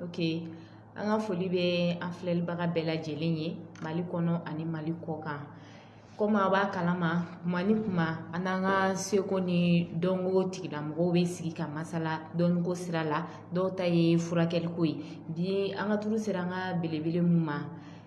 ok an ka foli bɛ an filɛlibaga bɛɛ lajɛlen ye mali kɔnɔ ani mali kɔ kan komi a b'a kalama kuma ni kuma an n'an ka seko ni dɔnko tigilamɔgɔw bɛ sigi ka masala dɔnko sira la dɔw ta ye furakɛliko ye bi an ka turu sera an ka belebele min ma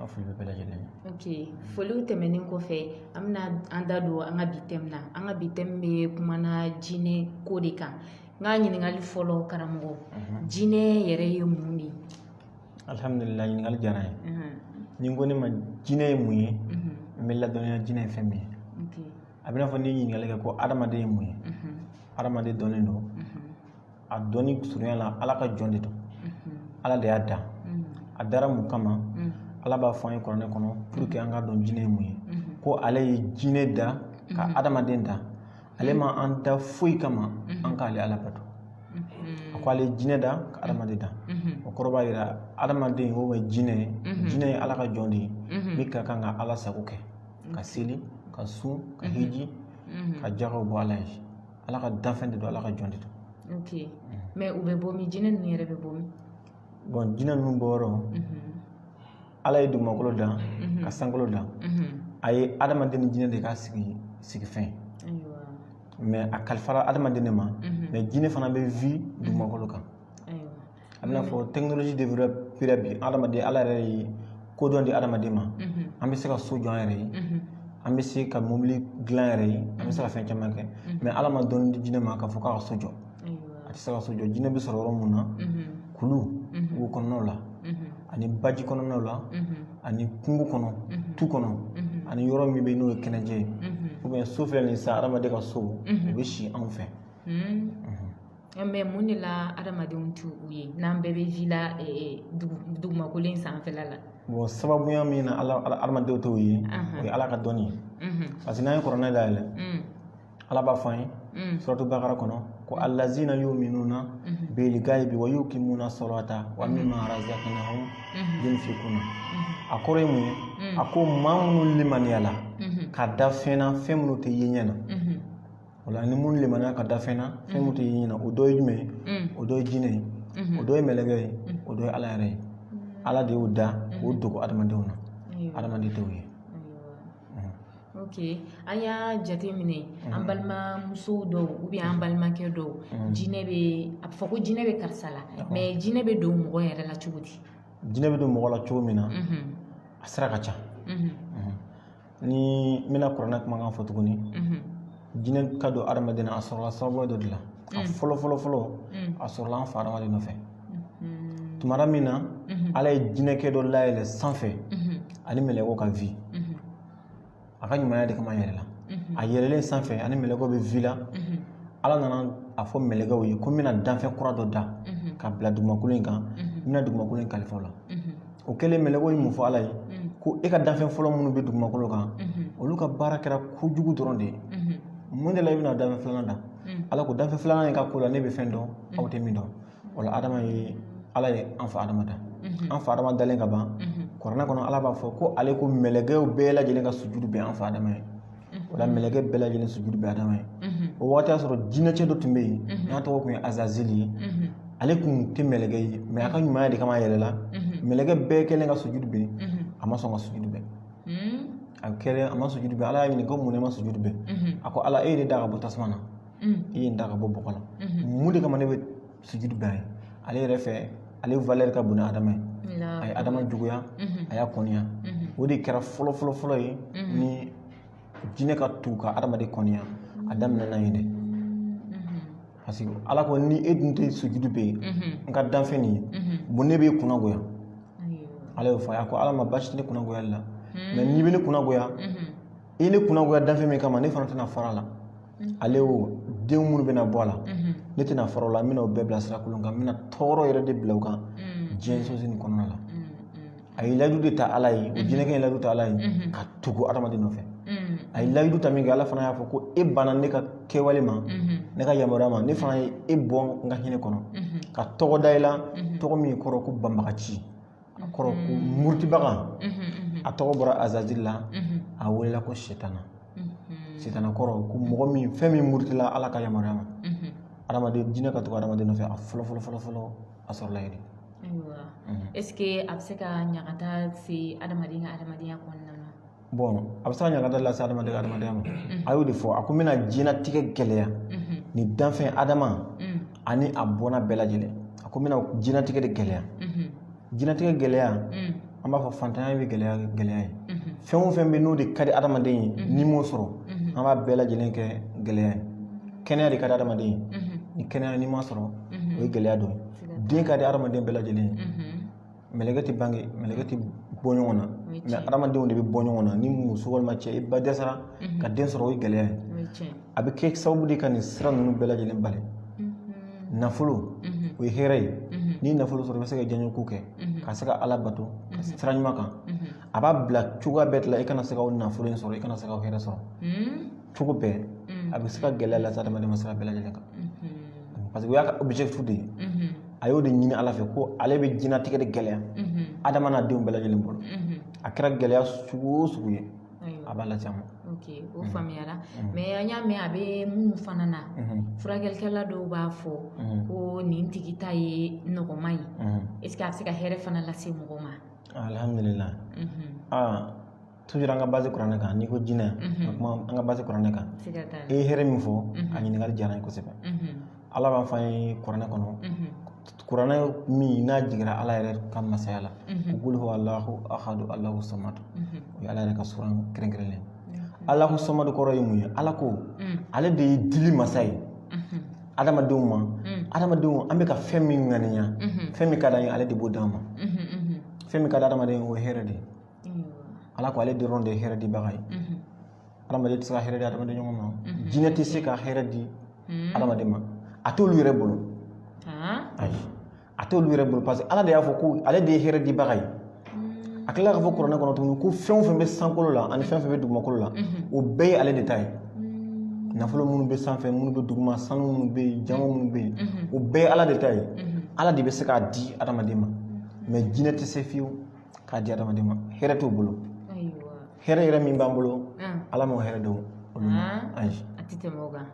An foli bɛ bɛɛ lajɛlen na ok foliw tɛmɛnen kɔfɛ an bɛna an da don an ka bi tɛmu na an ka bi tɛmu bɛ kumana jinɛ ko de kan n ka ɲininkali fɔlɔ karamɔgɔ jinɛ yɛrɛ ye mun de ye alihamudulila ɲininkali diyara n ye n'i ko ne ma jinɛ ye mun ye n bɛ ladɔnniya jinɛ ye fɛn min ye a b'i n'a fɔ n'i ye ɲininkali kɛ ko hadamaden ye mun ye hadamaden dɔnnen don a dɔnni surunya la ala ka jɔn de don ala de y'a da a dara mun kama ala b'a fɔ an ye kuranɛ kɔnɔ pour que an ka dɔn jinɛ ye mun ye ko ale ye jinɛ da ka adamaden da ale ma an da foyi kama an k'ale ala bato a ko ale ye jinɛ da ka adamaden da o kɔrɔ b'a yira adamaden o ye jinɛ ye jinɛ ye ala ka jɔn de ye min ka kan ka ala sago kɛ ka seli ka sun ka hiji ka jagaw bɔ ala ye ala ka danfɛn de don ala ka jɔn de don ok mɛ u bɛ bɔ min jinɛ ninnu yɛrɛ bɛ bɔ min bon jinɛ ninnu bɔyɔrɔ ala ye dugumakolo dan ka sankolo dan a ye adamaden ni jinɛ de k'a sigi sigifɛnw ye mɛ a kalifara adamaden de ma mɛ jinɛ fana bɛ vi dugumakolo kan a b'i n'a fɔ tɛkinoloji de bira bi adamaden ala yɛrɛ ye kodɔn di adamaden ma an bɛ se ka so jɔ an yɛrɛ ye an bɛ se ka mobili dilan an yɛrɛ ye an bɛ se ka fɛn caman kɛ mɛ ala ma dɔnni di jinɛ ma k'a fɔ k'a ka so jɔ a tɛ se ka so jɔ jinɛ bɛ sɔrɔ yɔrɔ mun na kulu wo kɔnɔnaw la ani baji kɔnɔnaw la ani kungo kɔnɔ tu kɔnɔ ani yɔrɔ min bɛ yen n'o ye kɛnɛjɛ ye ubiyɛn so filɛ nin ye sisan adamaden ka so u bɛ si anw fɛ Mɛ mun de la adamadenw t'u ye n'an bɛɛ bɛ ji la dugumakolo in sanfɛla la bon sababuya min na adamadenw t'u ye o ye ala ka dɔnni ye parce que n'an ye kɔrɔnɛ dayɛlɛ ala b'a fɔ an ye suratu bakara kɔnɔ ko alazina yuminuna bilgayibi wa yukimuna solata wa mima razakanahum yunfikuna a kɔrɔ ye mun ye a ko maa minnu limaniyala ka da fɛn na fɛn minnu tɛ ye ɲɛ na O la ni minnu limaniya ka da fɛn na fɛn min tɛ ye ɲɛ na o dɔ ye jumɛn ye o dɔ ye jinɛ ye o dɔ ye mɛlɛkɛ ye o dɔ ye ala yɛrɛ ye ala de y'o da k'o dogo adamadenw na adamaden t'u ye ok an y'a jateminɛ an balimamuso dɔw ubiyɛn an balimakɛ dɔw jinɛ bɛ a bɛ fɔ ko jinɛ bɛ karisa la mɛ jinɛ bɛ don mɔgɔ yɛrɛ la cogo di jinɛ bɛ don mɔgɔ la cogo min na a sira ka ca ni n bɛna kuranɛ kumakan fɔ tuguni jinɛ ka don adamaden na a sɔrɔla sababu dɔ de la a fɔlɔ fɔlɔ fɔlɔ a sɔrɔla an fa adama de nɔfɛ tumara min na ala ye jinɛkɛ dɔ layɛlɛ sanfɛ ani mɛlɛkɛw ka vi a ka ɲumanya de kama yɛlɛla a yɛlɛlen sanfɛ ani mɛlɛkɛw bɛ vi la ala nana a fɔ mɛlɛkɛw ye ko n bɛna danfɛn kura dɔ da ka bila dugumakolo in kan n bɛna dugumakolo in kalifa o la o kɛlen mɛlɛkɛw ye mun fɔ Ala ye, ko e ka danfɛn fɔlɔ minnu bɛ dugumakolo kan, olu ka baara kɛra kojugu dɔrɔn de ye, mun de la i bɛna danfɛn filanan da? Ala ko danfɛn filanan in ka ko la ne bɛ fɛn dɔn aw tɛ min dɔn, o la Adama ye Ala ye an fa Adama da, an fa Adama dalen ka ban, kuranɛ kɔnɔ Ala b'a fɔ ko ale ko mɛlɛkɛw bɛɛ lajɛlen ka sujudu bɛ an fa Adama ye. o la mɛlɛkɛ bɛɛ lajɛlen sujudu bɛ Adama ye o waati y'a sɔrɔ jinɛcɛ dɔ tun bɛ yen n'a tɔgɔ tun ye Azazili ye ale tun tɛ mɛlɛkɛ ye mɛ a ka ɲumanya de kama a yɛlɛla mɛlɛkɛ bɛɛ kɛlen ka sujudu bɛ a ma sɔn ka sujudu bɛ a kɛlen a ma sujudu bɛ Ala y'a ɲininka ko munna e ma sujudu bɛ a ko Ala e ye ne da ka bɔ tasuma na e ye nin da ka bɔ bɔgɔ la mun de kama ne bɛ sujudu bɛ a ye ale yɛrɛ fɛ ale valɛri ka bon ni adama ye a ye adama juguya a y'a kɔniya o de kɛra fɔlɔ fɔlɔ fɔlɔ ye ni jinɛ ka tugu ka adamaden kɔniya a daminɛna yen de parce que ala ko ni e dun tɛ sujudu bɛ n ka danfɛn nin ye bon ne b'e kunnagoya ala y'o fɔ a ko ala ma basi tɛ ne kunnagoyali la mɛ n'i bɛ ne kunnagoya i ye ne kunnagoya danfɛn min kama ne fana tɛna fara a la mm. ale o den minnu bɛna bɔ a la mm-hmm. ne tɛna fara u la n bɛna o bɛɛ bila sira kolon kan n bɛna tɔɔrɔ yɛrɛ de bila u kan mm. diɲɛ sosigi nin kɔnɔna la mm-hmm. a ye layidu de ta ala ye o mm-hmm. jinɛkɛ ye layidu ta ala ye ka tugu adamaden nɔfɛ a ye layidu ta min kɛ ala fana y'a fɔ ko e banna ne ka kɛwale ma ne ka yamaruya ma ne fana ye e bɔ n ka hinɛ kɔnɔ ka tɔgɔ da i la tɔgɔ min kɔrɔ ko banbaganci a kɔrɔ ko murutibaga a tɔgɔ bɔra azazili la a welela ko sitana sitana kɔrɔ ko mɔgɔ min fɛn min murutila ala ka yamaruya ma adamaden jinɛ ka tugu adamaden nɔfɛ a fɔlɔ fɔlɔ fɔlɔ fɔlɔ a sɔrɔla yen de est ce que a bɛ se ka ɲagata se adamaden ka adamadenya kɔnɔna na bɔn a bɛ se ka ɲagata lase adamadenya adamadenya ma a y'o de fɔ a ko n bɛna diɲɛnatigɛ gɛlɛya ni danfɛn adama ani a bɔnna bɛɛ lajɛlen a ko n bɛna diɲɛnatigɛ de gɛlɛya diɲɛnatigɛ gɛlɛya an b'a fɔ fantanya bɛ gɛlɛya gɛlɛya ye fɛn o fɛn bɛ n'o de ka di adamaden ye n'i m'o sɔrɔ an b'a bɛɛ lajɛlen kɛ gɛlɛya ye kɛnɛya de ka di adamaden ye ni kɛnɛya n'i ma sɔrɔ o ye gɛlɛya dɔ ye den ka di adamaden bɛɛ lajɛlen ye mɛlɛkɛ tɛ bange mɛlɛkɛ tɛ bɔ ɲɔgɔn na mɛ adamadenw de bɛ bɔ ɲɔgɔn na ni muso walima cɛ i ba dɛsɛra ka den sɔrɔ o ye gɛlɛya ye a bɛ kɛ sababu de ka nin sira ninnu bɛɛ lajɛlen bali nafolo o ye hɛrɛ ye ni nafolo sɔrɔ i bɛ se ka diyanyeko kɛ ka se ka ala bato ka sira ɲuman kan a b'a bila cogoya bɛɛ la i kana se ka nafolo in sɔrɔ i kana se ka hɛrɛ sɔrɔ cogo bɛɛ a bɛ se ka gɛlɛya lase adamaden ma sira bɛɛ lajɛlen kan parce que o y'a ka objectif de ye a y'o de ɲini ala fɛ ko ale bɛ diɲɛlatigɛ de gɛlɛya adama n'a denw bɛɛ lajɛlen bolo a kɛra gɛlɛya sugu o sugu ye a b'a lase a ma ok o faamuyara mɛ an y'a mɛn a bɛ minnu fana na furakɛlikɛla dɔw b'a fɔ ko nin tigi ta ye nɔgɔman ye est ce que a bɛ se ka hɛrɛ fana lase mɔgɔ ma alhamdulila toujours an ka base kuranɛ kan n'i ko jinɛ ka kuma an ka base kuranɛ kan i ye hɛrɛ min fɔ a ɲininkali diyara n ye kosɛbɛ ala b'a fɔ an ye kuranɛ kɔnɔ kuranɛ min n'a jiginra ala yɛrɛ ka masaya la kul huwa alahu ahadu alahu samadu o ye ala yɛrɛ ka suran kɛrɛnkɛrɛnlen alahu samadu kɔrɔ ye mun ye ala ko ale de ye dili masa ye adamadenw ma adamadenw an bɛ ka fɛn min ŋaniya fɛn min ka d'an ye ale de b'o d'an ma fɛn min ka di adamaden o ye hɛrɛ de ye ala ko ale dɔrɔn de ye hɛrɛ dibaga ye adamaden tɛ se ka hɛrɛ di adamaden ɲɔgɔn ma jinɛ tɛ se ka hɛrɛ di adamaden ma a t'olu yɛrɛ bolo ayi a t'olu yɛrɛ bolo parce que ala de y'a fɔ ko ale de ye hɛrɛ dibaga ye a tilala k'a fɔ kuranɛ kɔnɔ tuguni ko fɛn o fɛn bɛ sankolo la ani fɛn o fɛn bɛ dugumakolo la o bɛɛ ye ale de ta ye nafolo minnu bɛ sanfɛ minnu bɛ duguma sanu minnu bɛ yen jaman minnu bɛ yen o bɛɛ ye ala de ta ye ala de bɛ se k'a di adamaden ma mɛ jinɛ tɛ se fiyewu k'a di adamaden ma hɛrɛ t'u bolo ayiwa hɛrɛ yɛrɛ min b'an bolo an ala m'o hɛrɛ d'olu ma An. ayi a tɛ tɛmɛ o kan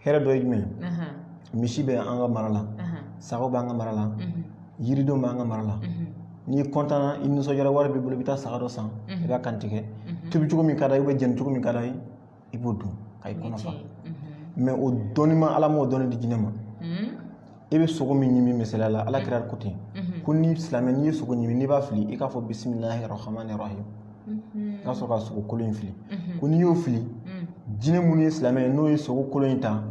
hɛrɛ dɔ ye jumɛn ye Ahan, misi bɛ an ka mara la ahan, sagaw b'an ka mara la mhm, yiridenw b'an ka mara la mhm, n'i kɔntanna i nisɔndiyara wari b'i bolo i bɛ taa saga dɔ san i b'a kantigɛ tobi cogo min ka d'a ye ubiyɛn jeni cogo min ka d'a ye i b'o dun ka i kɔnɔ fa mɛ o dɔnni ma ala m'o dɔnni di jinɛ ma i bɛ sogo min ɲimi misaliya la ala kira ko ten ko ni silamɛ n'i ye sogo ɲimi n'i b'a fili i k'a fɔ bisimilahi rahmani rahim i ka sɔrɔ ka sogo kolo in fili ko n'i y'o fili jinɛ minnu ye silamɛ ye n'u ye sogo kolo in ta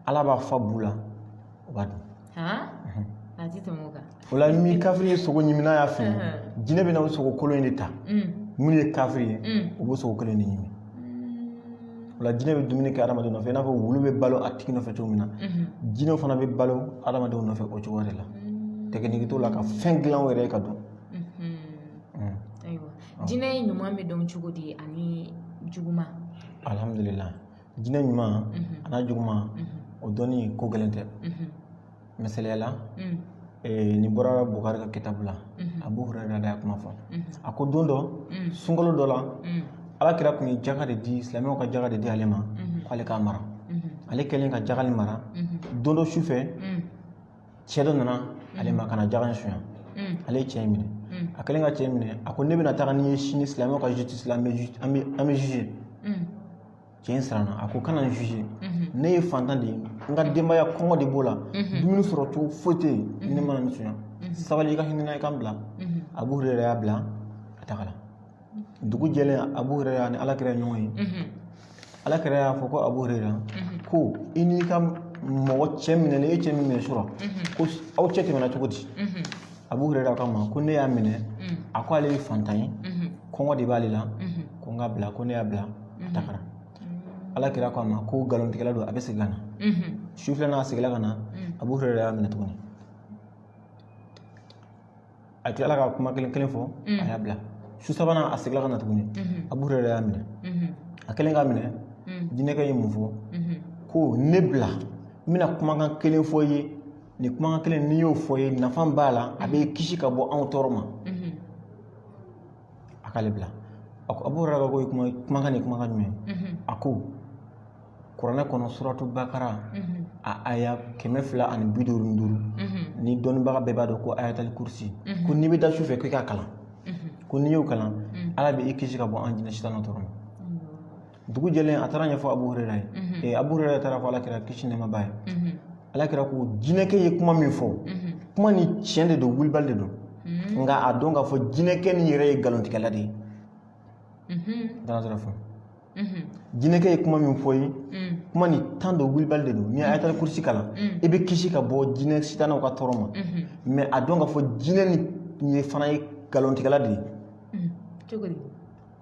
ala b'a fa bu la u b'a dun o la ni kafiri ye sogo ɲimi n'a y'a fili jinɛ bɛna o sogo kolo in de ta minnu ye kafiri ye u b'o sogo kolo in de ɲimi o la jinɛ bɛ dumuni kɛ hadamaden nɔfɛ i n'a fɔ wulu bɛ balo a tigi nɔfɛ cogo min na jinɛw fana bɛ balo hadamadenw nɔfɛ o cogoya de la technique t'u la ka fɛn dilan u yɛrɛ ye k'a dun jinɛ ɲuman bɛ dɔn cogo di ani juguman alihamudulila jinɛ ɲuman an'a juguman o dɔnni ko gɛlɛn tɛ misaliya la nin bɔra bukari ka kitabu la abu hurera y'a kuma fɔ a ko don dɔ sunkalo dɔ la ala kira tun ye jaka de di silamɛw ka jaka de di ale ma k'ale k'a mara ale kɛlen ka jaka nin mara don dɔ su fɛ cɛ dɔ nana ale ma ka na jaka in sonya ale ye cɛ in minɛ a kɛlen ka cɛ in minɛ a ko ne bɛna taga n'i ye sini silamɛw ka juge la an b'i juge an b'i juge cɛ in siranna a ko kana n juge mhm. ne ye fantan de ye n ka denbaya kɔngɔ de b'u la mhm. dumuni sɔrɔ cogo foyi tɛ yen mhm. ne nana nin sonya sabali i ka hinɛ i ka n bila abu hurera y'a bila a tagara dugu jɛlen abu hurera ni alakira ye ɲɔgɔn ye alakira y'a fɔ ko abu hurera ko i n'i ka mɔgɔ cɛ minɛlen e cɛ min minɛ surɔ ko aw cɛ tɛmɛna cogo di abu hurera k'a ma ko ne y'a minɛ a ko ale ye fantan ye kɔngɔ de b'ale la ko n k'a bila ko ne y'a bila a tagara ala kira k'a ma ko nkalontigɛla don a bɛ segin ka na su filanan a seginna ka na abu hurera y'a minɛ tuguni a tilala ka kuma kelen kelen fɔ a y'a bila su sabanan a seginna ka na tuguni abu hurera y'a minɛ a kɛlen k'a minɛ jinɛkɛ ye mun fɔ ko ne bila n bɛna kumakan kelen fɔ i ye nin kumakan kelen ni n y'o fɔ i ye nafa b'a la a b'i kisi ka bɔ anw tɔɔrɔ ma a k'ale bila a ko abu hurera ko kumakan nin kumakan jumɛn a ko kuranɛ kɔnɔ suratu bakara a aya kɛmɛ fila ani bi duuru ni duuru ni dɔnnibaga bɛɛ b'a dɔn ko ayatali kurusi ko n'i bɛ da su fɛ k'i k'a kalan ko n'i y'o kalan ala bɛ i kisi ka bɔ an jinɛ sitanɛ tɔɔrɔ ma dugu jɛlen a taara a ɲɛfɔ abu hurera ye mm-hmm. eh, abu hurera taara a fɔ alakira kisi ni nɛɛma b'a ye mm-hmm. alakira ko jinɛkɛ ye kuma min fɔ mm-hmm. kuma nin tiɲɛ de don wulibali de don nka a dɔn k'a fɔ jinɛkɛ nin yɛrɛ ye nkalontigɛla de ye danasira fɔ jinɛkɛ ye kuma min fɔ i ye mm. kuma nin tiɲɛ don wulibali de don n'i ye mm. ayatali kurusi kalan mm. i bɛ kisi ka bɔ jinɛ sitanaw ka tɔɔrɔ ma mɛ a dɔn k'a fɔ jinɛ nin yɛrɛ fana ye nkalontigɛla de ye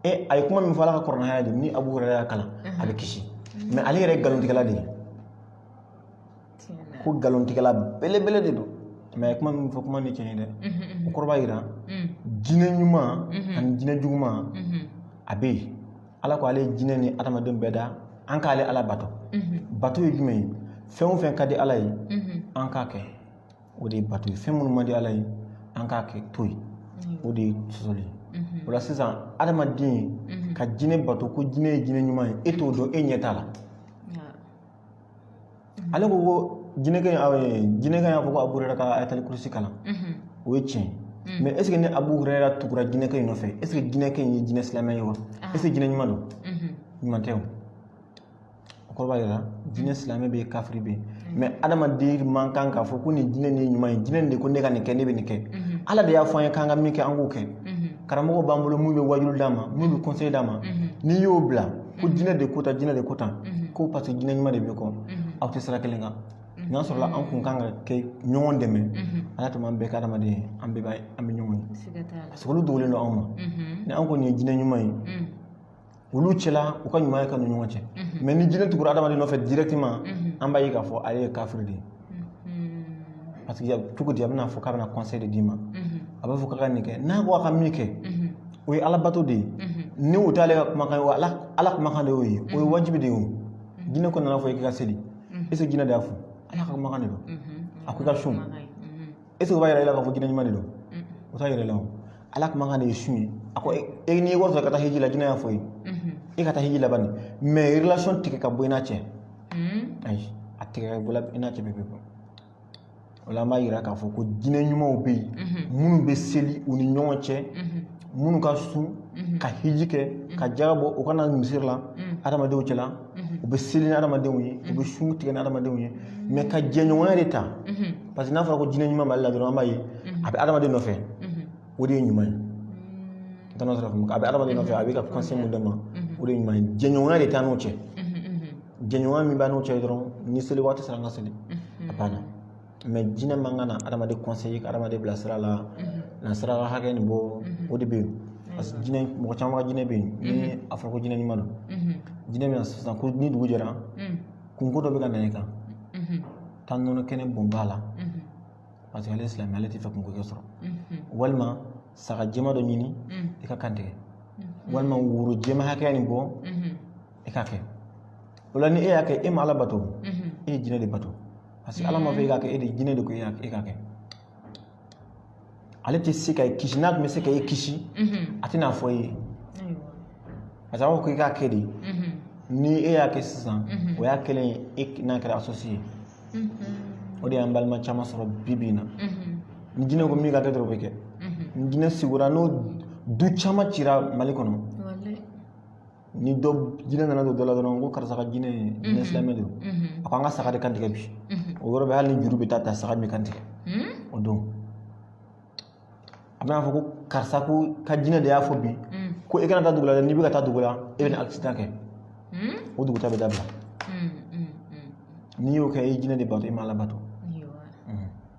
e a ye kuma min fɔ ala ka kuranɛ aya de ni abu hurayra y'a kalan a bɛ kisi mɛ ale yɛrɛ ye nkalontigɛla de ye ko nkalontigɛla belebele de don mɛ a ye kuma min fɔ kuma nin tiɲɛ ye dɛ o kɔrɔ b'a jira jinɛ ɲuman ani jinɛ juguman a bɛ yen ala ko ale ye jinɛ ni adamaden bɛɛ da an k'ale ala bato bato ye jumɛn ye fɛn o fɛn ka di ala ye an k'a kɛ o de ye bato ye fɛn minnu man di ala ye an k'a kɛ to yen o de ye sɔsɔli ye o la sisan adamaden ka jinɛ bato ko jinɛ ye jinɛ ɲuman ye e t'o dɔn e ɲɛ t'a la ale ko ko jinɛkɛ jinɛkɛ y'a fɔ ko abu hurera ka ayatali kurusi kalan o ye tiɲɛ ye mɛ ɛseke ni abu hurera tugura jinɛkɛ in nɔfɛ ɛseke jinɛkɛ in ye jinɛ silamɛ ye wa ɛseke jinɛ ɲuman don ɲuman tɛ o o kɔrɔ b'a jira jinɛ silamɛ bɛ yen kafiri bɛ yen mɛ adamaden man kan k'a fɔ ko nin jinɛ nin ye ɲuman ye jinɛ nin de ko ne ka nin kɛ ne bɛ nin kɛ ala de y'a fɔ an ye k'an ka min kɛ an k'o kɛ karamɔgɔ b'an bolo min bɛ waajuli d'an ma min bɛ kɔnseye d'an ma n'i y'o bila ko jinɛ de ko tan jinɛ de ko tan ko parce que jinɛ ɲuman de b'i kɔ aw tɛ sira kelen kan n'a sɔrɔla an tun kan ka kɛ ɲɔgɔn dɛmɛ ala tun b'an bɛɛ kɛ adamaden ye an bɛɛ b'a an bɛ ɲɔgɔn ye parce que olu dogolen don anw ma ni an kɔni ye jinɛ ɲuman ye olu cɛla u ka ɲuman ye ka ni ɲɔgɔn cɛ mhm. mɛ ni jinɛ tugura adamaden nɔfɛ directement mhm. an b'a ye k'a fɔ ale ye kafiri de ye mhm. parce que cogo di a bɛna fɔ k'a bɛna conseil de d'i ma a b'a fɔ k'a ka nin kɛ n'a ko a ka min kɛ o ye alabato de ye ni o t'ale ka kumakan ye ala kumakan de y'o ye o ye wajibi de ye o jinɛ ko nan'a fɔ i k'i ka seli est ce que jinɛ de y'a fɔ ala ka kumakan de don a ko i ka sun e tɛ b'a yira la k'a fɔ jinɛ ɲuman de don o t'a yira la o ala kumakan de ye sun ye a ko e n'i wari sɔrɔ ka taa hiji la jinɛ y'a fɔ i ye e ka taa hiji laban nin mɛ relation tigɛ ka bɔ i n'a cɛ ayi a tigɛ ka bɔ i n'a cɛ bɛ bɛ bɔ o la an b'a yira k'a fɔ ko jinɛ ɲumanw bɛ yen minnu bɛ seli u ni ɲɔgɔn cɛ minnu ka sun ka hiji kɛ ka jaka bɔ u ka na misiri la adamadenw cɛla u bɛ seli ni adamadenw ye u bɛ sun tigɛ ni adamadenw ye mɛ ka jɛɲɔgɔnya de ta parce que n'a fɔra ko jinɛ ɲuman b'ale la dɔrɔn an b'a ye a bɛ adamaden nɔfɛ o de ye ɲuman ye tana sɔrɔ a bɛ adamaden nɔfɛ a bɛ ka kɔnseye min d'a ma o de ye ɲuman ye jɛɲɔgɔnya de t'an n'o cɛ jɛɲɔgɔnya min b'an n'o cɛ dɔrɔn ni seli waati sera an ka seli a banna jinɛ man kan ka hadamaden ka hadamaden bila sira la na saraka nin bɔ o de bɛ yen parce que jinɛ mɔgɔ caman ka jinɛ bɛ yen ni a fɔra ko jinɛ ɲuman don jinɛ bɛ na sisan ko ni dugu jɛra kunko dɔ bɛ ka na i kan taa nɔnɔ kɛnɛ bɔn ba la parce que ale ye silamɛ ale t'a fɛ kunko k'e sɔrɔ walima saga jɛma dɔ ɲini i k'a kantigɛ walima woro jɛma hakɛya nin bɔ i k'a kɛ o la ni e y'a kɛ e ma ala bato e ye jinɛ de bato parce que ala m'a fɔ e k'a kɛ e de jinɛ de ko e k'a kɛ ale tɛ se ka e kisi n'a tun bɛ se ka e kisi a tɛn'a fɔ e ye parce que a b'a fɔ ko i k'a kɛ de ni e y'a kɛ sisan o y'a kɛlen ye e n'a kɛra associé o de y'an balima caman sɔrɔ bi bi in na ni jinɛ ko min ka kɛ dɔrɔn o bɛ kɛ ni jinɛ sigura n'o du caman cira mali kɔnɔ ni dɔ jinɛ nana don dɔ la dɔrɔn ko karisa ka jinɛ ye jinɛ silamɛ don a ko an ka saga de kantigɛ bi o yɔrɔ bɛɛ hali ni juru bɛ taa ta saga min kantigɛ o don a bɛn'a fɔ ko karisa ko ka jinɛ de y'a fɔ bi ko e kana taa dugu la dɛ n'i bɛ ka taa dugu la e bɛna accident kɛ o dugutaa bɛ dabila n'i y'o kɛ i jinɛ de bato i ma ala bato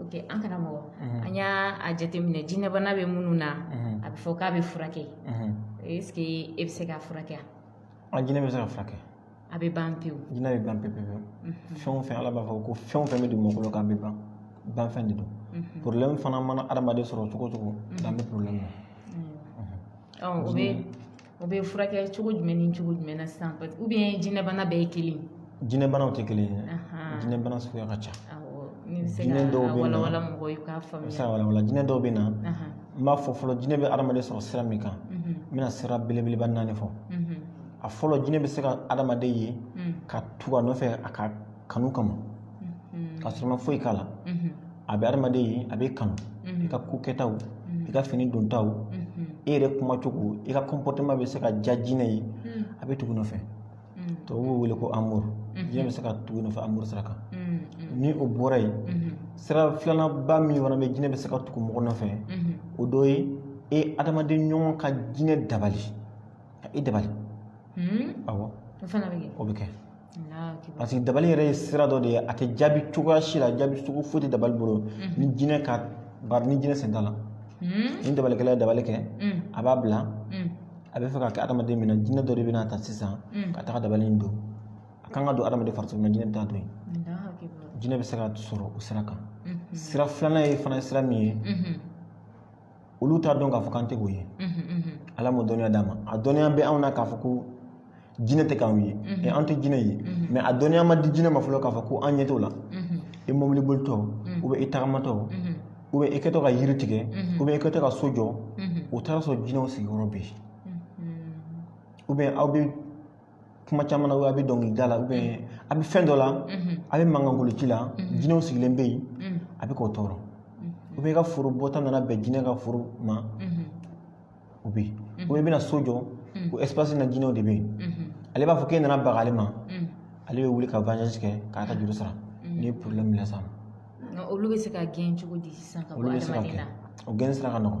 Oke an kana mɔgɔ an y'a a jateminɛ jinɛbana bɛ minnu na a bɛ fɔ k'a bɛ furakɛ est-ce que e bɛ se ka furakɛ an jinɛ bɛ se ka furakɛ a bɛ ban pewu jinɛ bɛ ban pewu fɛn o fɛn ala b'a fɔ ko fɛn o fɛn bɛ dugumakolo kan a bɛ ban banfɛn de don porobilɛmu fana mana hadamaden sɔrɔ cogo o cogo dan bɛ porobilɛmu na o bɛ O bɛ furakɛ cogo jumɛn ni cogo jumɛn na sisan u bɛ jinɛbana bɛɛ ye kelen jinɛbanaw tɛ kelen ye jinɛbana suguya ka ca jinɛ dɔw bɛ na wala jinɛ dɔw bɛ na n b'a fɔ fɔlɔ jinɛ bɛ hadamaden sɔrɔ sira min kan n bɛna sira belebeleba naani fɔ a fɔlɔ jinɛ bɛ se ka hadamaden ye ka tugu a nɔfɛ a ka kanu kama k'a sɔrɔ o ma foyi k'a la a bɛ adamaden ye a b'e kanu i ka kokɛtaw i ka fini dontaw e yɛrɛ kuma cogo i ka kɔnpɔtɛma bɛ se ka diya jinɛ ye a bɛ tugu i nɔfɛ tubabu b'o wele ko amuru jinɛ bɛ se ka tugu i nɔfɛ amuru sira kan ni o bɔra yen sira filananba min fana bɛ jinɛ bɛ se ka tugu mɔgɔ nɔfɛ o dɔ ye e adamaden ɲɔgɔn ka jinɛ dabali ka e dabali awɔ o bɛ kɛ parce que dabali yɛrɛ ye sira dɔ de ye a tɛ jaabi cogoya si la jaabi cogo foyi tɛ dabali bolo ni jinɛ ka bari ni jinɛ sen t'a la ni dabalikɛla ye dabali kɛ a b'a bila a b'a fɛ k'a kɛ adamaden min na jinɛ dɔ de bɛna a ta sisan ka taga dabali in don a kan ka don adamaden farisogo la jinɛ bɛ taa don yen jinɛ bɛ se ka sɔrɔ o sira kan sira filanan ye fana sira min ye olu t'a dɔn k'a fɔ k'an tɛ k'u ye ala m'o dɔnniya d'a ma a dɔnniya bɛ anw na k'a fɔ ko jinɛ tɛ k'anw ye ɛ an tɛ jinɛ ye mɛ a dɔnniya ma di jinɛ ma fɔlɔ k'a fɔ ko an ɲɛ t'o la i mobili bolitɔ ubiyɛn i tagamatɔ ubiyɛn i kɛtɔ ka yiri tigɛ ubiyɛn i kɛtɔ ka so jɔ o taara a sɔrɔ jinɛw sigiyɔrɔ bɛ yen ubiyɛn aw bɛ kuma caman na a bɛ dɔnkilida la a bɛ fɛn dɔ la a bɛ mankan kolon ci la jinɛw sigilen bɛ yen a bɛ k'u tɔɔrɔ ubiyɛn i ka foro bɔta nana bɛn jinɛ ka foro ma ubiyɛn i bɛna so jɔ o espasi na jinɛw de bɛ yen ale b'a fɔ k'e nana baga ale ma ale bɛ wuli ka vanzansi kɛ k'a ka juru sara n'i ye porobilɛmu bila sa olu bɛ se ka gɛn cogo di sisan ka bɔ adamaden na o gɛn sira ka nɔgɔn